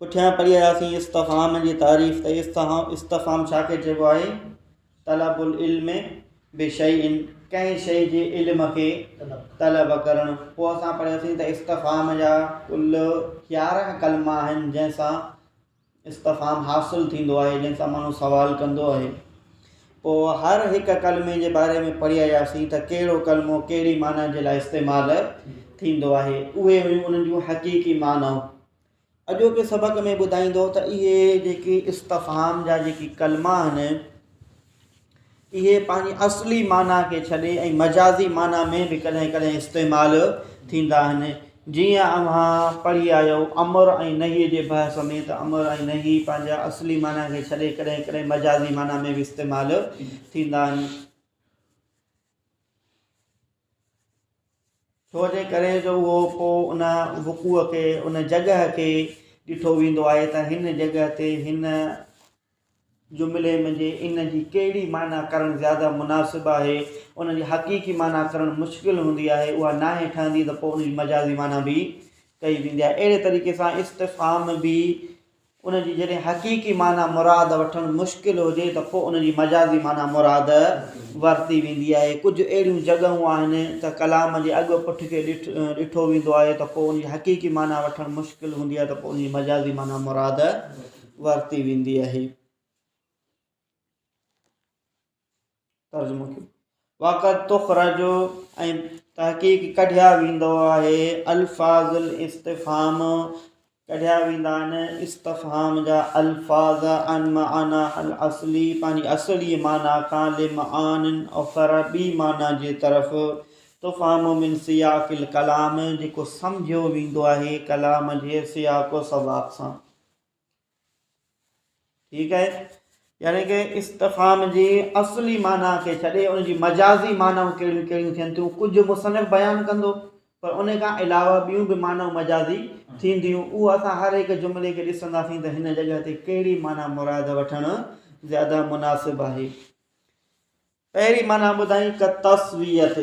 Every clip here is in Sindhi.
پٺيان پڙهي آياسين استفهام جي تعريف ته استفهام ڇا کي چئبو آهي؟ طلب العلم بشيء ڪنهن شيء جي علم کي طلب ڪرڻ پوء اسان پڙهيوسين ته استفهام جا ڪل يارهن ڪلما آهن جنهن سان استفهام حاصل ٿيندو آهي جنهن سان ماڻهو سوال ڪندو آهي پوء هر هڪ ڪلمي جي باري ۾ پڙهي آياسين ته ڪهڙو ڪلمو ڪهڙي معنيٰ جي لاء استعمال ٿيندو آهي اهي هيون انهن جون حقيقي معنائون اڄوڪي سبق ۾ ٻڌائيندو ته اهي جيڪي استفهام جا جيڪي ڪلما آهن اهي پنهنجي اصلي معنيٰ کي ڇڏي ۽ مجازي معنيٰ ۾ به ڪڏهن ڪڏهن استعمال ٿيندا آهن جيئن اوهان پڙهي آيو امر ۽ نهي جي بحث ۾ ته امر ۽ نهي پنهنجا اصلي معنيٰ کي ڇڏي ڪڏهن ڪڏهن مجازي معنيٰ ۾ به استعمال ٿيندا آهن ڇو جي ڪري جو اهو پوء ان وقوع کي ان جڳهه کي ڏٺو ويندو آهي ته هن جڳهه تي هن جملي م جي ان جي ڪهڙي معنيٰ ڪرڻ زياده مناسب آهي ان جي حقيقي معنيٰ ڪرڻ مشڪل هوندي آهي اها ناهي ٺهندي ته پوء ان جي مجازي معنيٰ به ڪئي ويندي آهي اهڙي طريقي سان استفهام به ان جي جڏهن حقيقي معنيٰ مراد وٺڻ مشڪل هجي ته پوء ان جي مجازي معنيٰ مراد ورتي ويندي آهي. ڪجهه اهڙيون جڳهون آهن ته ڪلام جي اڳ پٺ کي ڏٺو ويندو آهي ته پوء ان جي حقيقي معنيٰ وٺڻ مشڪل هوندي آهي ته پوء ان جي مجازي معنيٰ مراد ورتي ويندي آهي. ترجمو ڪيو واقعا تخرجو ۽ تحقيق ڪڍيا ويندو آهي الفاظ الاستفهام ڪڍيا ويندا آهن استفهام جا الفاظ عن معنا الاصلي پنهنجي اصلي معنی کان لمعان اخر ٻي معنی جي طرف تفهام من سياق الڪلام جيڪو سمجهيو ويندو آهي ڪلام جي سياق و سباق سان ٺيڪ آهي يعني ڪي استفهام جي اصلي معنيٰ کي ڇڏي ان جي مجازي معنائون ڪهڙيون ڪهڙيون ٿين ٿيون ڪجهه مصنف بيان ڪندو پر ان کان علاوه ٻيون به معنائون مجازي ٿينديون اهو اسان هر هڪ جملي کي ڏسنداسين ته هن جڳهه تي ڪهڙي معنيٰ مراد وٺڻ زياده مناسب آهي پهرين معنيٰ ٻڌائين ڪتصويت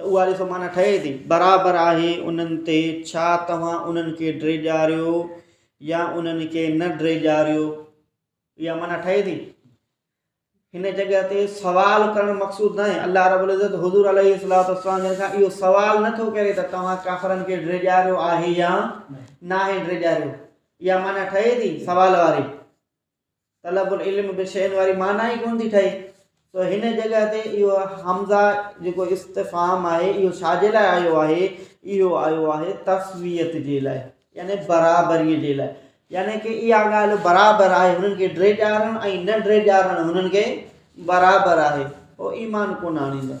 ته اها ڏسو معنيٰ ٺهي ٿي. برابر آهي انهن تي ڇا توهان انهن کي ڊيڄاريو يا انهن کي نه ڊيڄاريو. اها معنيٰ ٺهي ٿي. هن جڳهه تي سوال ڪرڻ مقصود ناهي. الله رب العزت حضور عليه الصلوة والسلام جن کان اهو سوال نه ٿو ڪري ته توهان ڪافرن کي ڊيڄاريو آهي يا ناهي ڊيڄاريو. اها معنيٰ ٺهي ٿي سوال واري. طلب العلم به شين واري معنيٰ ئي ڪونه ٿي ٺهي سو هن جڳهه تي اهو حمزه جيڪو استفهام آهي اهو ڇا جي لاء آيو آهي اهو آيو آهي تسويت جي لاء يعني برابري جي لاء يعني ڪي اها ڳالهه برابر آهي هنن کي ڊري ڏيارڻ ۽ نه ڊري ڏيارڻ هنن کي برابر آهي هو ايمان ڪونه آڻيندا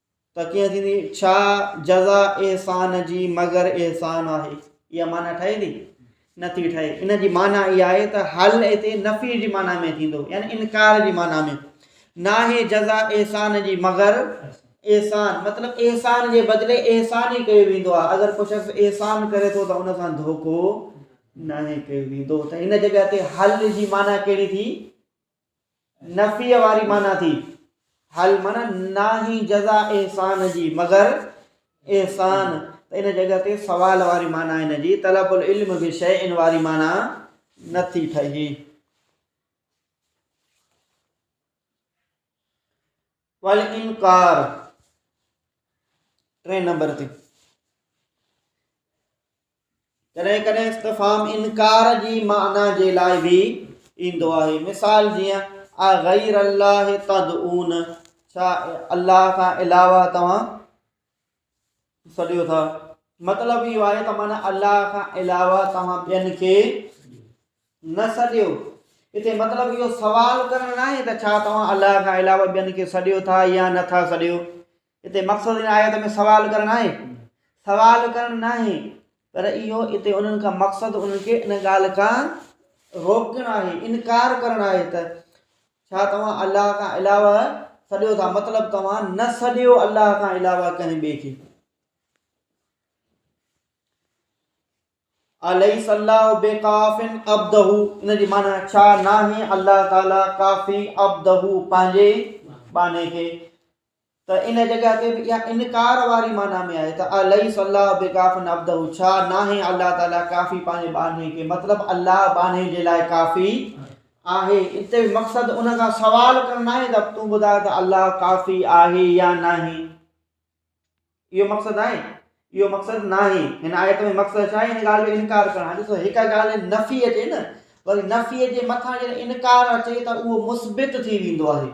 ته ڪيئن ٿيندي؟ ڇا جزا احسان جي مگر احسان آهي؟ اها معنيٰ ٺهي ٿي؟ نه ٿي ٺهي. ان جي معنيٰ اها آهي ته حل هتي نفي جي معنيٰ ۾ ٿيندو يعني انڪار جي معنيٰ ۾ ناهي جزا احسان جي مگر احسان مطلب احسان جي بدلي احسان ئي ڪيو ويندو آهي اگر ڪو شخص احسان ڪري ٿو ته ان سان ڌوڪو ناهي ڪيو ويندو ته هن جڳهه تي حل جي معنيٰ ڪهڙي ٿي؟ نفيء واري معنيٰ ٿي. هل معنيٰ ناهي جزا احسان جي مگر احسان ته ان جڳهه تي سوال واري معنيٰ ان جي طلب العلم بشيء واري معنيٰ نه ٿي ٺهي. والانڪار ٽئين نمبر تي ڪڏهن ڪڏهن استفهام انڪار جي معنيٰ جي لاء به ايندو آهي مثال جيئن آ غير الله تدعون ڇا الله کان علاوه توهان سڏيو ٿا مطلب اهو آهي ته معنی الله کان علاوه توهان ٻين کي نه سڏيو هتي مطلب اهو سوال ڪرڻ نه آهي ته ڇا توهان الله کان علاوه ٻين کي سڏيو ٿا يا نٿا سڏيو اتي مقصد هن آيت ۾ سوال ڪرڻ آهي، سوال ڪرڻ ناهي، پر اهو اتي انهن کان مقصد انهن کي ان ڳالهه کان روڪڻ آهي، انڪار ڪرڻ آهي ته ڇا توهان الله کان علاوه سڏيو ٿا، مطلب توهان نه سڏيو الله کان علاوه ڪنهن ٻئي کي. اليس الله بقاف عبده ان جي معنی ڇا ناهي الله تعالي ڪافي عبده پنهنجي باني کي ته ان جڳهه تي به اها انڪار واري معنيٰ ۾ آهي ته اليس الله بڪاف عبده ڇا ناهي الله تعالي ڪافي پنهنجي ٻانهي کي مطلب الله ٻانهي جي لاء ڪافي آهي اتي به مقصد ان کان سوال ڪرڻ ناهي ته تون ٻڌاء ته الله ڪافي آهي يا ناهي اهو مقصد آهي اهو مقصد ناهي هن آيت ۾ مقصد ڇا آهي هن ڳالهه جو انڪار ڪرڻ آهي ڏسو هڪ ڳالهه نفي اچي نه وري نفي جي مٿان جڏهن انڪار اچي ته اهو مثبت ٿي ويندو آهي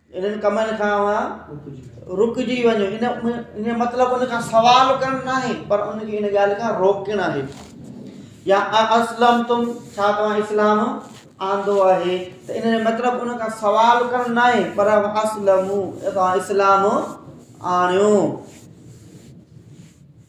انهن ڪمن کان اوهان رڪجي وڃو ان جو مطلب ان کان سوال ڪرڻ ناهي پر ان کي ان ڳالهه کان روڪڻ آهي يا اسلم تم ڇا توهان اسلام آندو آهي ته ان جو مطلب ان کان سوال ڪرڻ ناهي پر اسلم توهان اسلام آڻيو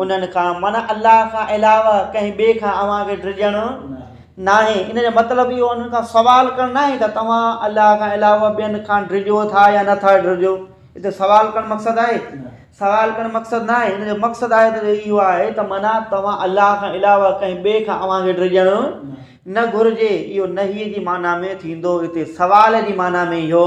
انهن کان، معنيٰ الله کان علاوه ڪنهن ٻئي کان اوهان کي ڊڄڻ ناهي. ان جو مطلب اهو انهن کان سوال ڪرڻ ناهي ته توهان الله کان علاوه ٻين کان ڊڄو ٿا يا نه ٿا ڊڄو. هتي سوال ڪرڻ مقصد آهي؟ سوال ڪرڻ مقصد ناهي. ان جو مقصد آيت جو اهو آهي ته معنيٰ توهان الله کان علاوه ڪنهن ٻئي کان اوهان کي ڊڄڻ نه گهرجي. اهو نهي جي معنيٰ ۾ ٿيندو. هتي سوال جي معنيٰ ۾ اهو.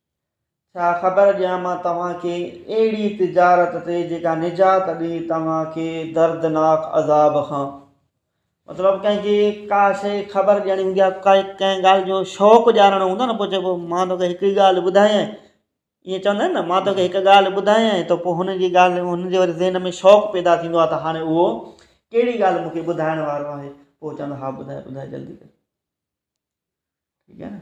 ڇا خبر ڏيان مان توهان کي اهڙي تجارت تي جيڪا نجات ڏئي توهان کي دردناڪ عذاب کان. مطلب ڪنهن کي ڪا شيء خبر ڏيڻي هوندي آهي ڪا ڪنهن ڳالهه جو شوق ڄاڻڻو هوندو آهي نه پوء چئبو مان توکي هڪڙي ڳالهه ٻڌايئي ائين چوندا آهن نه مان توکي هڪ ڳالهه ٻڌايئي ته پوء هن جي ڳالهه هن جي وري ذهن ۾ شوق پيدا ٿيندو آهي ته هاڻي اهو ڪهڙي ڳالهه مونکي ٻڌائڻ وارو آهي پوء چوندا ها ٻڌاء ٻڌاء جلدي ڪر ٺيڪ آهي نه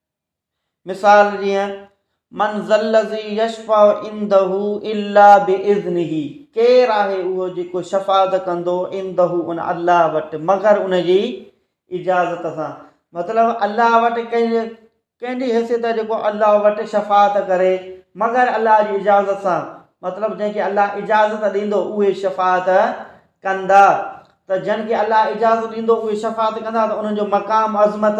مثال جيئن، من ذا الذي يشفع عنده الا باذنه، ڪير آهي اهو جيڪو شفاعت ڪندو عنده ان الله وٽ مگر ان جي اجازت سان. مطلب الله وٽ ڪنهن جي ڪنهن جي حيثيت آهي جيڪو الله وٽ شفاعت ڪري مگر الله جي اجازت سان مطلب جنهن کي الله اجازت ڏيندو اهي شفاعت ڪندا ته جن کي الله اجازت ڏيندو اهي شفاعت ڪندا ته انهن جو مقام عظمت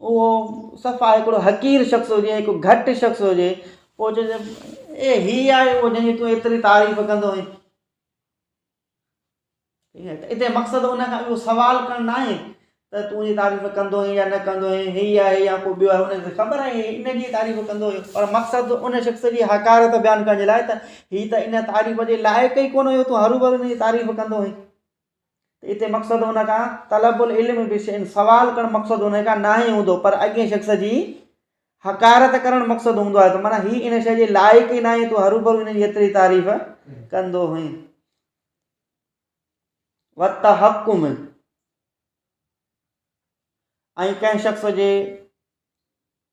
اهو صفا هڪڙو حقير شخص هجي هڪ گهٽ شخص هجي پوء چئجي اي هي آهي اهو جنهن جي تون ايتري تعريف ڪندو آهين اتي مقصد ان کان اهو سوال ڪرڻ نه آهي ته تون جي تعريف ڪندو آهين يا نه ڪندو آهين هي آهي يا ڪو ٻيو آهي ان کي خبر آهي ان جي تعريف ڪندو آهي پر مقصد ان شخص جي حقارت بيان ڪرڻ جي لاء ته هي ته ان تعريف جي لائق ئي ڪونه هيو تون هروڀرو ان جي تعريف ڪندو آهين ته اتي مقصد ان کان طلب العلم بشيء سوال ڪرڻ مقصد ان کان ناهي هوندو پر اڳئين شخص جي حقارت ڪرڻ مقصد هوندو آهي ته معنيٰ هي ان شيء جي لائق ئي ناهي تون هروڀرو ان جي ايتري تعريف ڪندو هئين وتحڪم ۽ ڪنهن شخص جي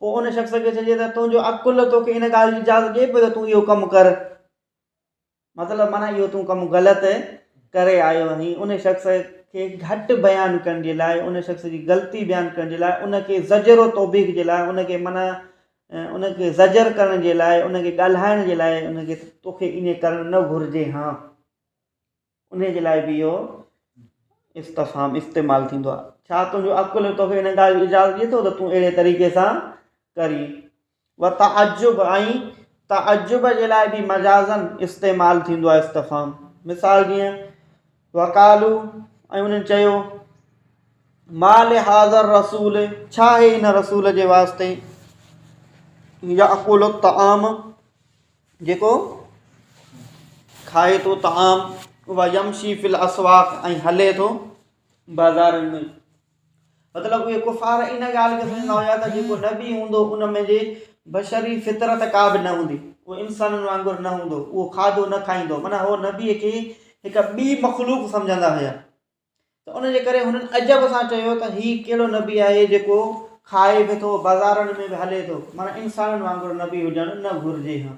پوء ان شخص کي چئجي ته تنهنجو عقل توکي ان ڳالهه جي اجازت ڏئي پيو ته تون اهو ڪم ڪر. مطلب معنيٰ اهو تون ڪم غلط ڪري آيو آهين. ان شخص کي گهٽ بيان ڪرڻ جي لاء، ان شخص جي غلطي بيان ڪرڻ جي لاء، ان کي زجر و توبيخ جي لاء، ان کي معنيٰ ان کي زجر ڪرڻ جي لاء، ان کي ڳالهائڻ جي لاء ان کي توکي ائين ڪرڻ نه گهرجي ها. انهيء جي لاء به اهو استفهام استعمال ٿيندو آهي. ڇا تنهنجو عقل توکي ان ڳالهه جي اجازت ڏئي ٿو ته تون اهڙي طريقي سان ڪرين؟ وتعجب ۽ تعجب جي لاء به مجازاً استعمال ٿيندو آهي استفهام. مثال جيئن، وقالو ۽ انهن چيو، ما لهذا الرسول ڇا آهي هن رسول جي واسطي يأڪل الطعام، جيڪو کائي ٿو طعام و يمشي في الاسواق ۽ هلي ٿو بازارن ۾ مطلب اهي ڪفار ان ڳالهه کي سمجهندا هيا ته جيڪو نبي هوندو ان ۾ جي بشري فطرت ڪا به نه هوندي اهو انسانن وانگر نه هوندو اهو کاڌو نه کائيندو معنيٰ هو نبي کي هڪ ٻي مخلوق سمجهندا هيا ته ان جي ڪري هنن عجب سان چيو ته هي ڪهڙو نبي آهي جيڪو کائي به ٿو بازارن ۾ به هلي ٿو معنيٰ انسانن وانگر نبي هجڻ نه گهرجي ها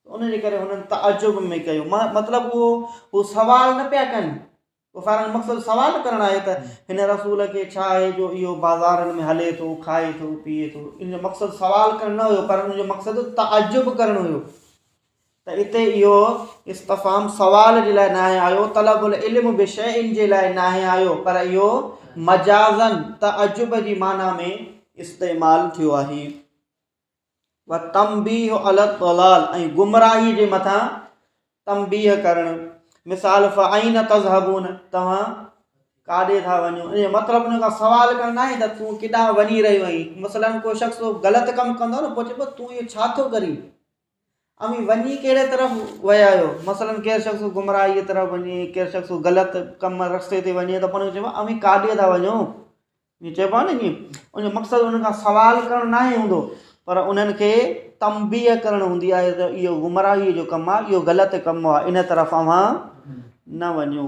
ان جي ڪري هنن تعجب ۾ ڪيو مطلب اهو هو سوال نه پيا ڪن ڪفارن جو مقصد سوال ڪرڻ آهي ته هن رسول کي ڇا آهي جو اهو بازارن ۾ هلي ٿو کائي ٿو پيئي ٿو ان جو مقصد سوال ڪرڻ نه هيو پر ان جو مقصد تعجب ڪرڻ هيو ته اتي اهو استفهام سوال جي لاء ناهي آيو، طلب العلم بشيء جي لاء ناهي آيو، پر اهو مجازاً تعجب جي معنيٰ ۾ استعمال ٿيو آهي. والتنبيه علي الضلال ۽ گمراهي جي مٿان تنبيه ڪرڻ. مثال، فأين تذهبون توهان ڪاڏي ٿا وڃو؟ ان جو مطلب ان کان سوال ڪرڻ ناهي ته تون ڪيڏانهن وڃي رهيو آهين. مثلاً ڪو شخص ڪو غلط ڪم ڪندو آهي نه پوء چئبو آهي تون اهو ڇا ٿو ڪرين؟ اوهين وڃي ڪهڙي طرف ويا آهيو؟ مثلاً ڪير شخص گمراهيء طرف وڃي، ڪير شخص غلط ڪم رستي تي وڃي ته پوء هن کي چئبو آهي اوهين ڪاڏي ٿا وڃو؟ ائين چئبو آهي نه ائين ان جو مقصد ان کان سوال ڪرڻ ناهي هوندو پر انهن کي تنبيه ڪرڻ هوندي آهي ته اهو گمراهيء جو ڪم آهي اهو غلط ڪم آهي ان طرف اوهان نه وڃو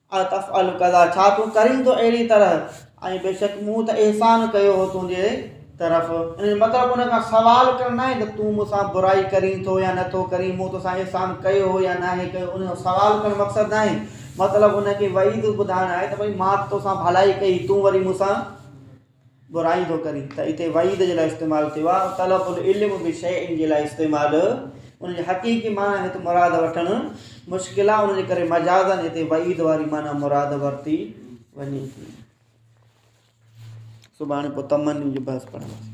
اتفعل ڪذا، ڇا تون ڪرين ٿو اهڙي طرح، ۽ بيشڪ مون ته احسان ڪيو هو تنهنجي طرف. ان جو مطلب ان کان سوال ڪرڻ ناهي ته تون مون سان برائي ڪرين ٿو يا نٿو ڪرين، مون تو سان احسان ڪيو هو يا ناهي ڪيو، ان جو سوال ڪرڻ مقصد ناهي، مطلب ان کي وعيد ٻڌائڻ آهي ته ڀئي مان ته تو سان ڀلائي ڪئي، تون وري مون سان. برائي ٿو ڪري ته اتي وعيد جي لاء استعمال ٿيو آهي ۽ طلب العلم بشيء جي لاء استعمال ان جي حقيقي معنيٰ هت مراد وٺڻ مشڪل آهي ان جي ڪري مجازاً هتي وعيد واري معنيٰ مراد ورتي وڃي ٿي سڀاڻي پوء تمنيون جو بحث پڙهنداسين